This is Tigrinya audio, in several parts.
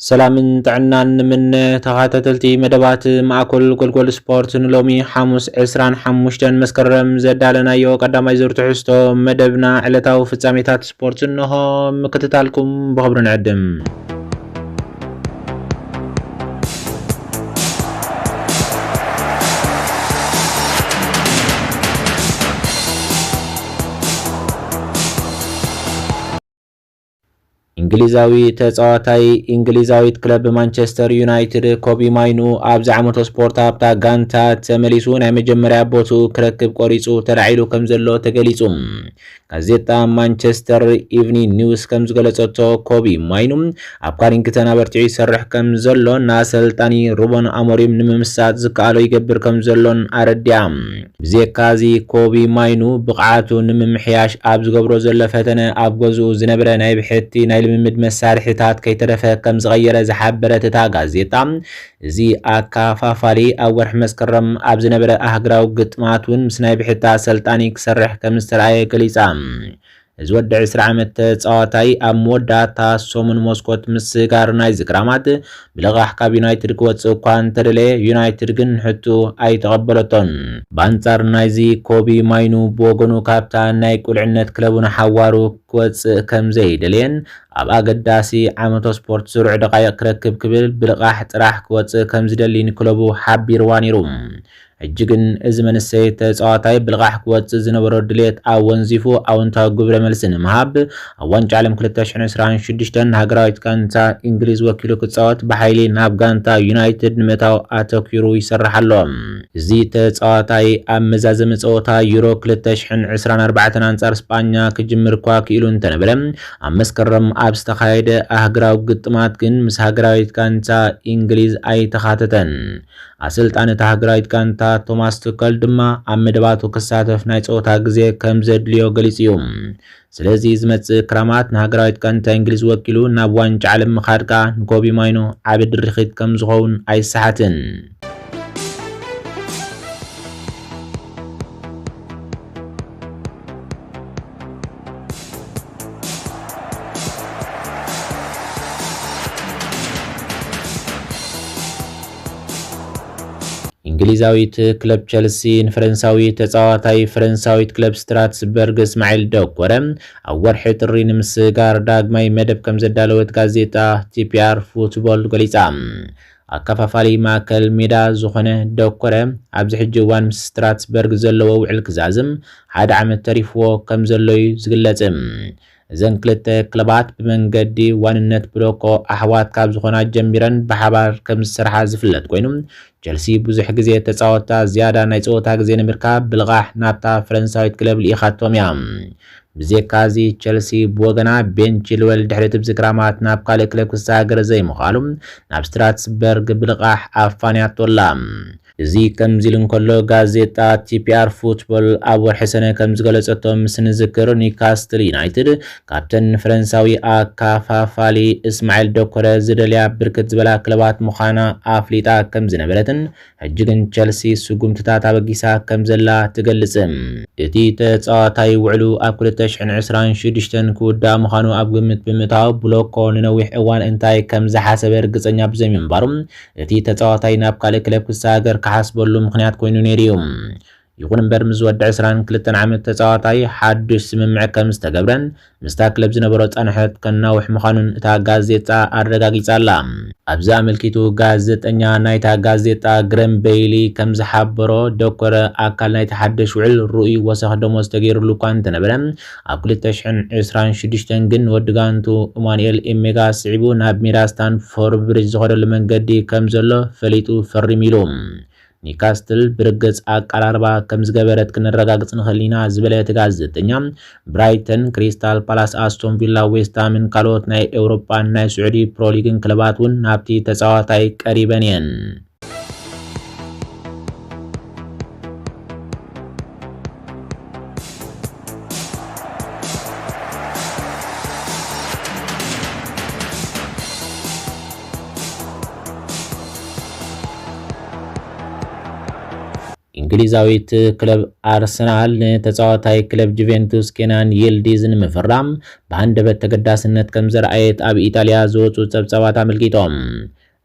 ሰላምን ጥዕናን ንምነ ተኻታተልቲ መደባት ማእኮል ጎልጎል ስፖርት ንሎሚ ሓሙስ ዕስራን ሓሙሽተን መስከረም ዘዳለናዮ ቀዳማይ ዙር ትሕዝቶ መደብና ዕለታዊ ፍጻሜታት ስፖርት እንሆ ምክትታልኩም ብኽብሪ ንዕድም። ኢንግሊዛዊ ተጻዋታይ ኢንግሊዛዊት ክለብ ማንቸስተር ዩናይትድ ኮቢ ማይኑ ኣብዚ ዓመተ ስፖርት ኣብታ ጋንታ ተመሊሱ ናይ መጀመርያ ቦትኡ ክረክብ ቆሪጹ ተላዒሉ ከም ዘሎ ተገሊጹ። ጋዜጣ ማንቸስተር ኢቭኒንግ ኒውስ ከም ዝገለጸቶ ኮቢ ማይኑ ኣብ ካሪንግተን ኣበርቲዑ ይሰርሕ ከም ዘሎን ንኣሰልጣኒ ሩበን ኣሞሪም ንምምሳጥ ዝከኣሎ ይገብር ከም ዘሎን ኣረዲኣ። ብዜካ እዚ ኮቢ ማይኑ ብቕዓቱ ንምምሕያሽ ኣብ ዝገብሮ ዘሎ ፈተነ ኣብ ገዝኡ ዝነበረ ናይ ብሕቲ ናይ ልምምድ መሳርሒታት ከይተረፈ ከምዝቐየረ ዝሓበረት እታ ጋዜጣ እዚ ኣከፋፋሊ ኣብ ወርሒ መስከረም ኣብ ዝነበረ ኣህግራዊ ግጥማት እውን ምስ ናይ ብሕቲ ኣሰልጣኒ ክሰርሕ ከምዝተርኣየ ገሊጻ። እዚ ወዲ ዕስራ ዓመት ተጻዋታይ ኣብ መወዳእታ ሰሙን ሞስኮት ምስጋር ናይዚ ክራማት ብልቓሕ ካብ ዩናይትድ ክወጽእ እኳ እንተደለየ ዩናይትድ ግን ሕቱ ኣይተቐበለቶን። ብኣንጻር ናይዚ ኮቢ ማይኑ ብወገኑ ካብታ ናይ ቁልዕነት ክለቡ ንሓዋሩ ክወጽእ ከም ዘይደለየን ኣብ ኣገዳሲ ዓመቶ ስፖርት ስሩዕ ደቓይቕ ክረክብ ክብል ብልቓሕ ጥራሕ ክወጽእ ከም ዝደሊን ክለቡ ሓቢርዋ ነይሩ። ሕጂ ግን እዚ መንሰይ ተጻዋታይ ብልቓሕ ክወጽእ ዝነበሮ ድሌት ኣወንዚፉ ኣወንታዊ ግብረ መልሲ ንምሃብ ኣብ ዋንጫ ዓለም ክልተ ሽሕን ዕስራን ሽዱሽተን ንሃገራዊት ጋንታ ኢንግሊዝ ወኪሉ ክጻወት ብሓይሊ ናብ ጋንታ ዩናይትድ ንምእታው ኣተኲሩ ይሰርሕ ኣሎ። እዚ ተጻዋታይ ኣብ መዛዘሚ ጸወታ ዩሮ ክልተ ሽሕን ዕስራን ኣርባዕተን ኣንጻር ስጳኛ ክጅምር'ኳ ክኢሉ እንተነበረ ኣብ መስከረም ኣብ ዝተኻየደ ኣህግራዊ ግጥማት ግን ምስ ሃገራዊት ጋንታ ኢንግሊዝ ኣይተኻተተን። ኣሰልጣኒ እታ ሃገራዊት ጋንታ ቶማስ ቱከል ድማ ኣብ መደባቱ ክሳተፍ ናይ ጸወታ ግዜ ከም ዘድልዮ ገሊጹ እዩ። ስለዚ ዝመጽእ ክራማት ንሃገራዊት ጋንታ እንግሊዝ ወኪሉ ናብ ዋንጫ ዓለም ምኻድ ከኣ ንኮቢ ማይኖ ዓቢ ድርኺት ከም ዝኸውን ኣይሰሓትን። እንግሊዛዊት ክለብ ቸልሲ ንፈረንሳዊ ተጻዋታይ ፈረንሳዊት ክለብ ስትራትስበርግ እስማዒል ደኮረ ኣብ ወርሒ ጥሪ ንምስግጋር ዳግማይ መደብ ከምዘዳለወት ጋዜጣ ቲፒኣር ፉትቦል ገሊጻ። ኣከፋፋሊ ማእከል ሜዳ ዝኾነ ደኮረ ኣብዚ ሕጂ እዋን ምስ ስትራትስበርግ ዘለዎ ውዕል ክዛዝም ሓደ ዓመት ተሪፍዎ ከምዘሎ'ዩ ዝግለጽ። እዘን ክልተ ክለባት ብመንገዲ ዋንነት ብሎኮ ኣሕዋት ካብ ዝኾና ጀሚረን ብሓባር ከምዝሰርሓ ዝፍለጥ ኮይኑ ቸልሲ ብዙሕ ግዜ ተጻወትታ ዝያዳ ናይ ጸወታ ግዜ ንምርካብ ብልቓሕ ናብታ ፈረንሳዊት ክለብ ልኢኻቶም እያ። ብዜካዚ ቸልሲ ብወገና ቤን ቺልወል ድሕሪ እቲ ብዝክራማት ናብ ካልእ ክለብ ክሰጋገር ዘይምኽኣሉ ናብ ስትራትስበርግ ብልቓሕ ኣፋንያቶ ኣላ። እዚ ከምዚ ኢሉ እንከሎ፣ ጋዜጣ ቲፒኣር ፉትቦል ኣብ ወርሒ ሰነ ከም ዝገለጸቶ፣ ምስ ንዝክር ኒውካስትል ዩናይትድ ካብተን ንፈረንሳዊ ኣካፋፋሊ እስማዒል ዶኮረ ዝደልያ ብርክት ዝበላ ክለባት ምዃና ኣፍሊጣ ከም ዝነበረትን ሕጂ ግን ቸልሲ ስጉምትታት ኣበጊሳ ከም ዘላ ትገልጽ። እቲ ተጻዋታይ ውዕሉ ኣብ ክልተ ሽሕን ዕስራን ሽዱሽተን ክውዳእ ምዃኑ ኣብ ግምት ብምእታው ብሎኮ ንነዊሕ እዋን እንታይ ከም ዝሓሰበ ርግጸኛ ብዘይምንባሩ እቲ ተጻዋታይ ናብ ካልእ ክለብ ክሰጋገር ክሓስበሉ ምኽንያት ኮይኑ ነይሩ'ዩ። ይኹን እምበር ምስ ዝወድእ ዕስራን ክልተን ዓመት ተጻዋታይ ሓዱሽ ስምምዕ ከም ዝተገብረን ምስታ ክለብ ዝነበሮ ጻንሖት ከናውሕ ምዃኑን እታ ጋዜጣ ኣረጋጊጻ ኣላ። ኣብዚ ኣመልኪቱ ጋዜጠኛ ናይታ ጋዜጣ ግረም በይሊ ከም ዝሓበሮ፣ ደኮረ ኣካል ናይቲ ሓድሽ ውዕል ርኡይ ወሰኽ ደሞዝ ተገይሩሉ እኳ እንተነበረ፣ ኣብ ክልተ ሽሕን ዕስራን ሽዱሽተን ግን ወዲ ጋንትኡ እማኑኤል ኤሜጋ ስዒቡ ናብ ሜዳ ስታንፎርብ ብሪጅ ዝኸደሉ መንገዲ ከም ዘሎ ፈሊጡ ፈሪሙ ኢሉ። ኒውካስትል ብርግጽ ኣቀራርባ ከም ዝገበረት ክነረጋግጽ ንኽእል ኢና ዝበለ እቲ ጋዜጠኛ፣ ብራይተን፣ ክሪስታል ፓላስ፣ ኣስቶን ቪላ፣ ዌስትሃምን ካልኦት ናይ ኤውሮጳን ናይ ስዑዲ ፕሮሊግን ክለባት እውን ናብቲ ተጻዋታይ ቀሪበን እየን። እንግሊዛዊት ክለብ ኣርሰናል ንተጻዋታይ ክለብ ጁቬንቱስ ኬናን ይልዲዝ ንምፍራም ብሃንደበት ተገዳስነት ከም ዘርኣየት ኣብ ኢጣልያ ዝወጹ ጸብጻባት ኣመልኪቶም።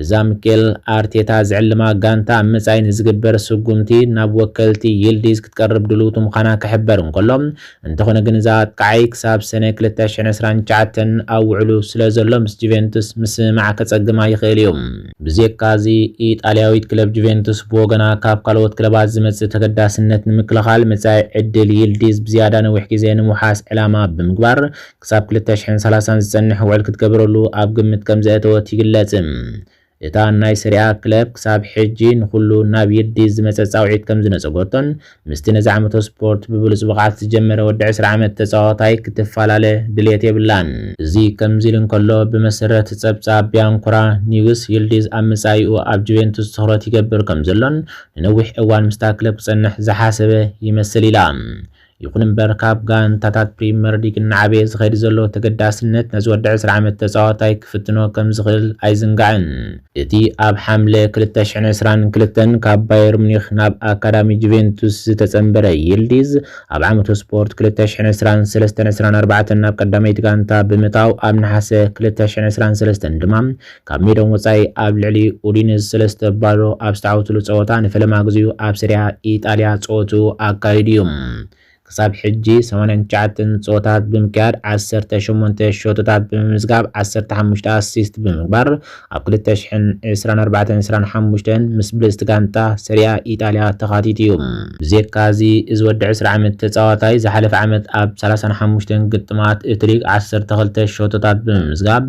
እዛ ሚኬል ኣርቴታ ዝዕልማ ጋንታ ኣብ መጻኢ ንዝግበር ስጉምቲ ናብ ወከልቲ ይልዲዝ ክትቀርብ ድልውቲ ምዃና ክሕበር እንከሎ፣ እንተኾነ ግን እዚ ኣጥቃዓይ ክሳብ ሰነ ክልተ ሽሕን ዕስራን ትሽዓተን ኣብ ውዕሉ ስለዘሎ ምስ ጁቬንቱስ ምስምማዕ ከጸግማ ይኽእል እዩ። ብዜካ'ዚ ኢጣልያዊት ክለብ ጁቬንቱስ ብወገና ካብ ካልኦት ክለባት ዝመጽእ ተገዳስነት ንምክልኻል መጻኢ ዕድል ይልዲዝ ብዝያዳ ነዊሕ ግዜ ንምውሓስ ዕላማ ብምግባር ክሳብ ክልተ ሽሕን ሰላሳን ዝጸንሕ ውዕል ክትገብረሉ ኣብ ግምት ከምዘእተወት ይግለጽ። እታ ናይ ሰሪኣ ክለብ ክሳብ ሕጂ ንኹሉ ናብ ይዲዝ ዝመጸ ጻውዒት ከምዝነጸጎቶን ምስቲ ነዚ ዓመቶ ስፖርት ብብሉጽ ብቕዓት ዝጀመረ ወዲ ዕስራ ዓመት ተጻዋታይ ክትፋላለ ድልየት የብላን። እዚ ከምዚ ኢሉ እንከሎ፣ ብመሰረት ጸብጻብ ቢያንኮራ ኒውስ፣ ይልዲዝ ኣብ መጻኢኡ ኣብ ጁቬንቱስ ትኹረት ይገብር ከምዘሎን ንነዊሕ እዋን ምስታ ክለብ ክጸንሕ ዝሓሰበ ይመስል ኢላ። ይኹን እምበር ካብ ጋንታታት ፕሪመር ሊግ እናዓበየ ዝኸይድ ዘሎ ተገዳስነት ነዚ ወዲ ዕስራ ዓመት ተጻዋታይ ክፍትኖ ከም ዝኽእል ኣይዝንጋዕን። እቲ ኣብ ሓምለ ክልተ ሽሕን ዕስራን ክልተን ካብ ባየር ሙኒኽ ናብ ኣካዳሚ ጁቬንቱስ ዝተጸንበረ ይልዲዝ፣ ኣብ ዓመቱ ስፖርት ክልተ ሽሕን ዕስራን ሰለስተን ዕስራን ኣርባዕተን ናብ ቀዳመይቲ ጋንታ ብምእታው ኣብ ነሓሰ ክልተ ሽሕን ዕስራን ሰለስተን ድማ ካብ ሜዶም ወጻኢ ኣብ ልዕሊ ኡዲንዝ ሰለስተ ባዶ ኣብ ዝተዓወትሉ ጸወታ ንፈለማ ግዜኡ ኣብ ሰሪኣ ኢጣልያ ጸወትኡ ኣካይዱ እዩ። ክሳብ ሕጂ ሰማንያን ትሽዓተን ጸወታት ብምክያድ ዓሰርተ ሸሞንተ ሸቶታት ብምምዝጋብ ዓሰርተ ሓሙሽተ ኣሲስት ብምግባር ኣብ ክልተ ሽሕን ዕስራን ኣርባዕተን ዕስራን ሓሙሽተን ምስ ብልጽቲ ጋንታ ሰሪኣ ኢጣልያ ተኻቲቱ እዩ። ብዜካ እዚ እዚ ወዲ ዕስራ ዓመት ተጻዋታይ ዝሓለፈ ዓመት ኣብ ሰላሳን ሓሙሽተን ግጥማት እቲ ሊግ ዓሰርተ ክልተ ሸቶታት ብምምዝጋብ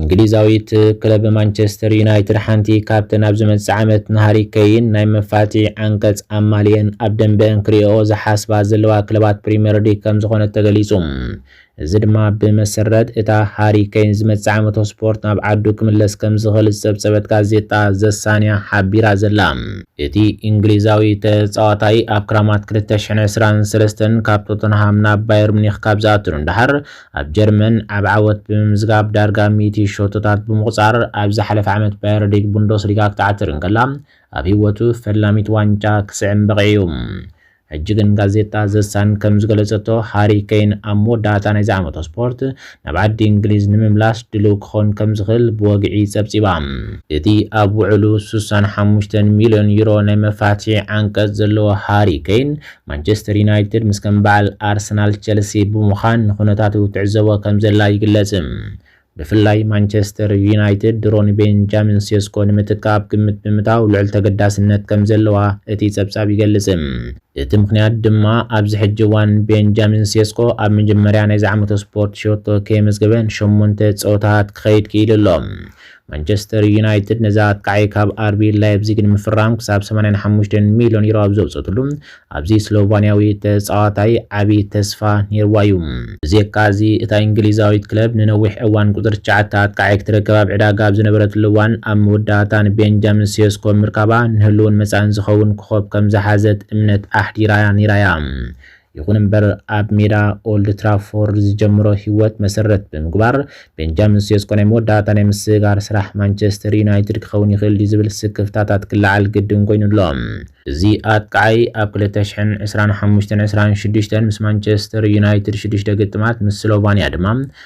እንግሊዛዊት ክለብ ማንቸስተር ዩናይትድ ሓንቲ ካብተን ኣብ ዝመጽእ ዓመት ንሃሪ ከይን ናይ መፋትሒ ዓንቀጽ ኣማሊኤን ኣብ ደንበኣን ክርእየኦ ዝሓስባ ዘለዋ ክለባት ፕሪምየር ሊግ ከምዝኾነት ተገሊጹ። እዚ ድማ ብመሰረት እታ ሃሪ ከይን ዝመጽእ ዓመቶ ስፖርት ናብ ዓዱ ክምለስ ከምዝኽእል ዝጸብጸበት ጋዜጣ ዘሳንያ ሓቢራ ዘላ። እቲ እንግሊዛዊ ተጻዋታይ ኣብ ክራማት ክልተ ሽሕን ዕስራን ሰለስተን ካብ ቶተንሃም ናብ ባየር ሙኒኽ ካብ ዝኣቱ ንደሓር፣ ኣብ ጀርመን ዓቢ ዓወት ብምምዝጋብ ዳርጋ ሚእቲ ሸቶታት ብምቑጻር ኣብ ዝሓለፈ ዓመት ባየር ሊግ ቡንደስሊጋ ክትዓትር እንከላ ኣብ ህይወቱ ፈላሚት ዋንጫ ክስዕም በቒዑ'ዩ። ሕጂ ግን ጋዜጣ ዘ ሳን ከም ዝገለጸቶ ሃሪ ኬይን ኣብ መወዳእታ ናይዚ ዓመቶ ስፖርት ናብ ዓዲ እንግሊዝ ንምምላስ ድሉው ክኸውን ከም ዝኽእል ብወግዒ ጸብጺባ። እቲ ኣብ ውዕሉ ስሳን ሓሙሽተን ሚልዮን ዩሮ ናይ መፋትሒ ዓንቀጽ ዘለዎ ሃሪ ኬይን ማንቸስተር ዩናይትድ ምስ ከም በዓል ኣርሰናል ቸልሲ ብምዃን ንኩነታቱ ትዕዘቦ ከምዘላ ይግለጽ። ብፍላይ ማንቸስተር ዩናይትድ ድሮ ንቤንጃሚን ሴስኮ ንምትካእ ኣብ ግምት ብምእታው ልዑል ተገዳስነት ከምዘለዋ እቲ ጸብጻብ ይገልጽ። እቲ ምኽንያት ድማ ኣብዚ ሕጂ እዋን ቤንጃሚን ሴስኮ ኣብ መጀመርያ ናይዚ ዓመተ ስፖርት ሸቶ ከየመዝገበ ንሸሞንተ ጸወታታት ክኸይድ ክኢሉ ኣሎ። ማንቸስተር ዩናይትድ ነዚ ኣጥቃዒ ካብ ኣርቢ ላይፕዚግ ንምፍራም ክሳብ ሰማንያን ሓሙሽተን ሚልዮን ዩሮ ኣብ ዘውጸትሉ፣ ኣብዚ ስሎቫንያዊ ተጻዋታይ ዓቢ ተስፋ ኔርዋ እዩ። ብዜካ'ዚ እታ ኢንግሊዛዊት ክለብ ንነዊሕ እዋን ቁጽሪ ትሽዓተ ኣጥቃዒ ክትረክብ ኣብ ዕዳጋ ኣብ ዝነበረትሉ እዋን፣ ኣብ መወዳእታ ንቤንጃሚን ሴስኮ ምርካባ ንህሉውን መጻእን ዝኸውን ኮኾብ ከም ዝሓዘት እምነት ኣሕዲራ ኔራ'ያ። ይኹን እምበር ኣብ ሜዳ ኦልድ ትራፎርድ ዝጀመሮ ህይወት መሰረት ብምግባር ቤንጃሚን ሴስኮ ናይ መወዳእታ ናይ ምስግጋር ስራሕ ማንቸስተር ዩናይትድ ክኸውን ይኽእል ድዩ ዝብል ስክፍታታት ክለዓል ግድን ኮይኑ ኣሎ። እዚ ኣጥቃዓይ ኣብ ክልተ ሽሕን ዕስራን ሓሙሽተን ዕስራን ሽዱሽተን ምስ ማንቸስተር ዩናይትድ ሽዱሽተ ግጥማት ምስ ስሎቫንያ ድማ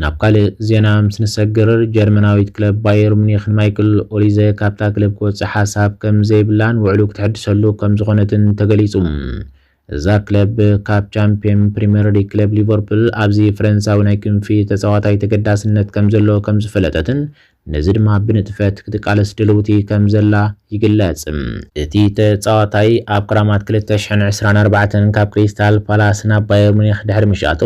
ናብ ካልእ ዜና ምስ ንሰግር፣ ጀርመናዊት ክለብ ባየር ሙኒክ ንማይክል ኦሊዘ ካብታ ክለብ ክወጽእ ሓሳብ ከም ዘይብላን ውዕሉ ክትሕድሰሉ ከም ዝኾነትን ተገሊጹ። እዛ ክለብ ካብ ቻምፕዮን ፕሪመር ሊግ ክለብ ሊቨርፑል ኣብዚ ፈረንሳዊ ናይ ክንፊ ተጻዋታይ ተገዳስነት ከም ዘለዎ ከም ዝፈለጠትን ነዚ ድማ ብንጥፈት ክትቃለስ ድልውቲ ከምዘላ ይግለጽ። እቲ ተጻዋታይ ኣብ ክራማት ክልተ ሽሕን ዕስራን ኣርባዕተን ካብ ክሪስታል ፓላስ ናብ ባየር ሙኒክ ድሕሪ ምሽኣቱ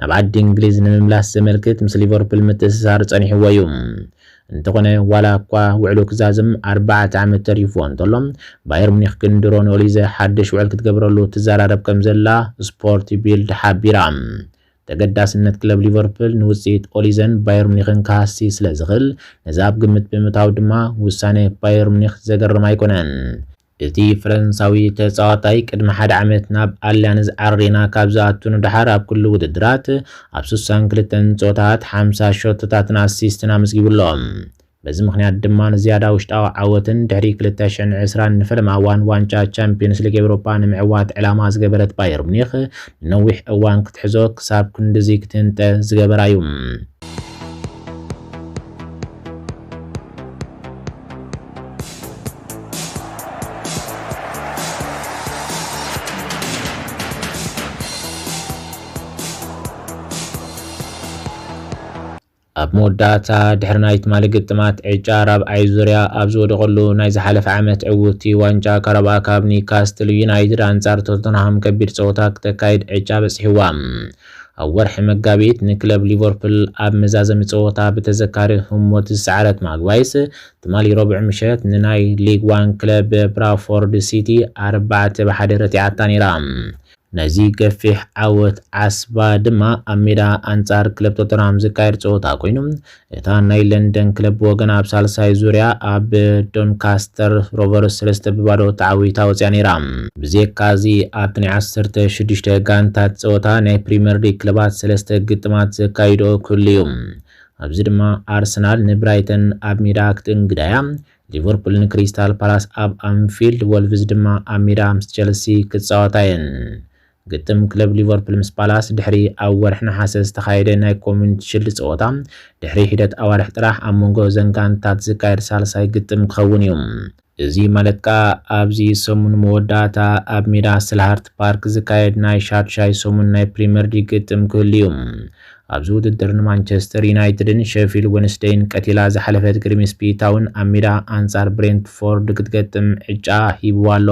ናብ ዓዲ እንግሊዝ ንምምላስ ዘመልክት ምስ ሊቨርፑል ምትእስሳር ጸኒሕዎ እዩ። እንተኾነ ዋላ እኳ ውዕሉ ክዛዝም ኣርባዕተ ዓመት ተሪፍዎ እንተሎ፣ ባየር ሙኒክ ግን ድሮ ንኦሊዘ ሓድሽ ውዕል ክትገብረሉ ትዘራረብ ከምዘላ ስፖርት ቢልድ ሓቢራ። ተገዳስነት ክለብ ሊቨርፑል ንውጽኢት ኦሊዘን ባየር ሙኒክን ክሃሲ ስለ ዝኽእል ነዚ ኣብ ግምት ብምእታው ድማ ውሳነ ባየር ሙኒክ ዘገርም ኣይኮነን። እቲ ፈረንሳዊ ተጻዋታይ ቅድሚ ሓደ ዓመት ናብ ኣልያንዝ ኣሬና ካብ ዝኣቱ ንደሓር ኣብ ኩሉ ውድድራት ኣብ ስሳን ክልተን ጸወታታት ሓምሳ ሸቶታትን ኣሲስትን ኣመዝጊቡ ኣሎ። በዚ ምኽንያት ድማ ንዝያዳ ውሽጣዊ ዓወትን ድሕሪ ክልተ ሽሕን ዕስራን ንፈለማ እዋን ዋንጫ ቻምፕዮንስ ሊግ ኤውሮጳ ንምዕዋት ዕላማ ዝገበረት ባየር ሙኒኽ ንነዊሕ እዋን ክትሕዞ ክሳብ ክንድዚ ክትህንጠ ዝገበራ'ዩ። ኣብ መወዳእታ፣ ድሕሪ ናይ ትማሊ ግጥማት ዕጫ ራብዓይ ዙርያ ኣብ ዝወደቐሉ ናይ ዝሓለፈ ዓመት ዕውትቲ ዋንጫ ካራባኦ ካፕ ኒውካስትል ዩናይትድ ኣንጻር ቶተንሃም ከቢድ ጸወታ ክተካይድ ዕጫ በጺሕዋ። ኣብ ወርሒ መጋቢት ንክለብ ሊቨርፑል ኣብ መዛዘሚ ጸወታ ብተዘካሪ ህሞት ዝሰዓረት ማግባይስ፣ ትማሊ ረቡዕ ምሸት ንናይ ሊግ ዋን ክለብ ብራፎርድ ሲቲ ኣርባዕተ ብ ሓደ ረቲዓታ ነይራ። ነዚ ገፊሕ ዓወት ዓስባ ድማ ኣብ ሜዳ ኣንጻር ክለብ ቶተንሃም ዝካየድ ጸወታ ኮይኑ፣ እታ ናይ ለንደን ክለብ ብወገና ኣብ ሳልሳይ ዙርያ ኣብ ዶንካስተር ሮቨርስ ሰለስተ ብ ባዶ ተዓዊታ ወጺኣ ነይራ። ብዜካ'ዚ ኣብቲ ናይ ዓሰርተ ሽዱሽተ ጋንታት ጸወታ ናይ ፕሪመር ሊግ ክለባት ሰለስተ ግጥማት ዘካይድኦ ክህሉ'ዩ። ኣብዚ ድማ ኣርሰናል ንብራይተን ኣብ ሜዳ ክትእንግዳ'ያ፣ ሊቨርፑል ንክሪስታል ፓላስ ኣብ ኣንፊልድ፣ ወልቭዝ ድማ ኣብ ሜዳ ምስ ቸልሲ ክጻወታ እየን። ግጥም ክለብ ሊቨርፑል ምስ ፓላስ ድሕሪ ኣብ ወርሒ ነሓሰ ዝተኻየደ ናይ ኮምዩኒቲ ሽልድ ጸወታ ድሕሪ ሒደት ኣዋርሕ ጥራሕ ኣብ መንጎ እዘን ጋንትታት ዝካየድ ሳልሳይ ግጥም ክኸውን እዩ። እዚ ማለት ከኣ ኣብዚ ሰሙን መወዳእታ ኣብ ሜዳ ሰልሃርት ፓርክ ዝካየድ ናይ ሻድሻይ ሰሙን ናይ ፕሪመር ሊግ ግጥም ክህሉ እዩ። ኣብዚ ውድድር ንማንቸስተር ዩናይትድን ሸፊልድ ወንስደይን ቀቲላ ዝሓለፈት ግሪምስቢ ታውን ኣብ ሜዳ ኣንጻር ብሬንትፎርድ ክትገጥም ዕጫ ሂብዋ ኣሎ።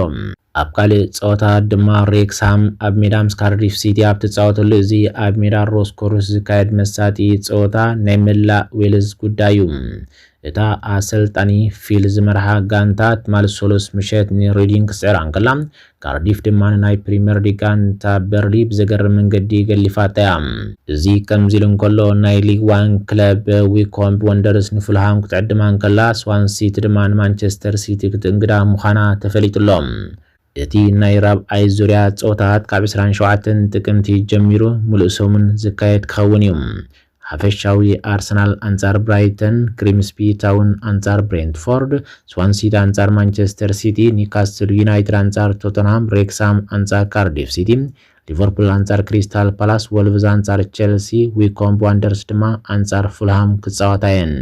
ኣብ ካልእ ጸወታ ድማ ሬክስሃም ኣብ ሜዳ ምስ ካርዲፍ ሲቲ ኣብ ትጻወተሉ እዚ ኣብ ሜዳ ሮስ ኮርስ ዝካየድ መሳጢ ጸወታ ናይ መላእ ዌልዝ ጉዳይ'ዩ። እታ ኣሰልጣኒ ፊል ዝመርሓ ጋንታ ትማል ሰሉስ ምሸት ንሬዲንግ ክትስዕራ እንከላ ካርዲፍ ድማ ንናይ ፕሪመር ሊግ ጋንታ በርሊ ብዘገርም መንገዲ ገሊፋታ እያ። እዚ ከምዚ ኢሉ እንከሎ ናይ ሊግ ዋን ክለብ ዊኮምቢ ወንደርስ ንፉልሃም ክትዕድማ እንከላ ስዋን ሲቲ ድማ ንማንቸስተር ሲቲ ክትእንግዳ ምዃና ተፈሊጡ ኣሎ። እቲ ናይ ራብዓይ ዙርያ ጸወታታት ካብ ዕስራን ሸውዓተን ጥቅምቲ ጀሚሩ ምሉእ ሰሙን ዝካየድ ክኸውን እዩ። ሓፈሻዊ ኣርሰናል ኣንጻር ብራይተን፣ ግሪምስቢ ታውን ኣንጻር ብሬንትፎርድ፣ ስዋንሲቲ ኣንጻር ማንቸስተር ሲቲ፣ ኒውካስትል ዩናይትድ ኣንጻር ቶተንሃም፣ ሬክስሃም ኣንጻር ካርዲፍ ሲቲ፣ ሊቨርፑል ኣንጻር ክሪስታል ፓላስ፣ ወልቭዝ ኣንጻር ቸልሲ፣ ዊኮምብ ዋንደርስ ድማ ኣንጻር ፉልሃም ክጻወታ እየን።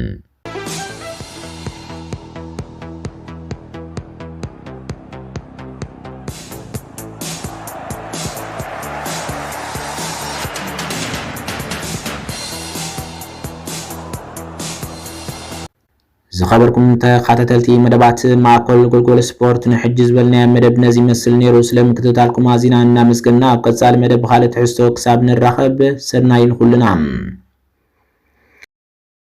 ዝኸበርኩም ተኸታተልቲ መደባት ማእኮል ጎልጎል ስፖርት ንሕጂ ዝበልናዮ መደብ ነዚ ይመስል ነይሩ። ስለ ምክትታልኩም ኣዚና እናመስገና ኣብ ቀጻሊ መደብ ብኻልእ ትሕዝቶ ክሳብ ንራኸብ ሰናይ ንኹልና።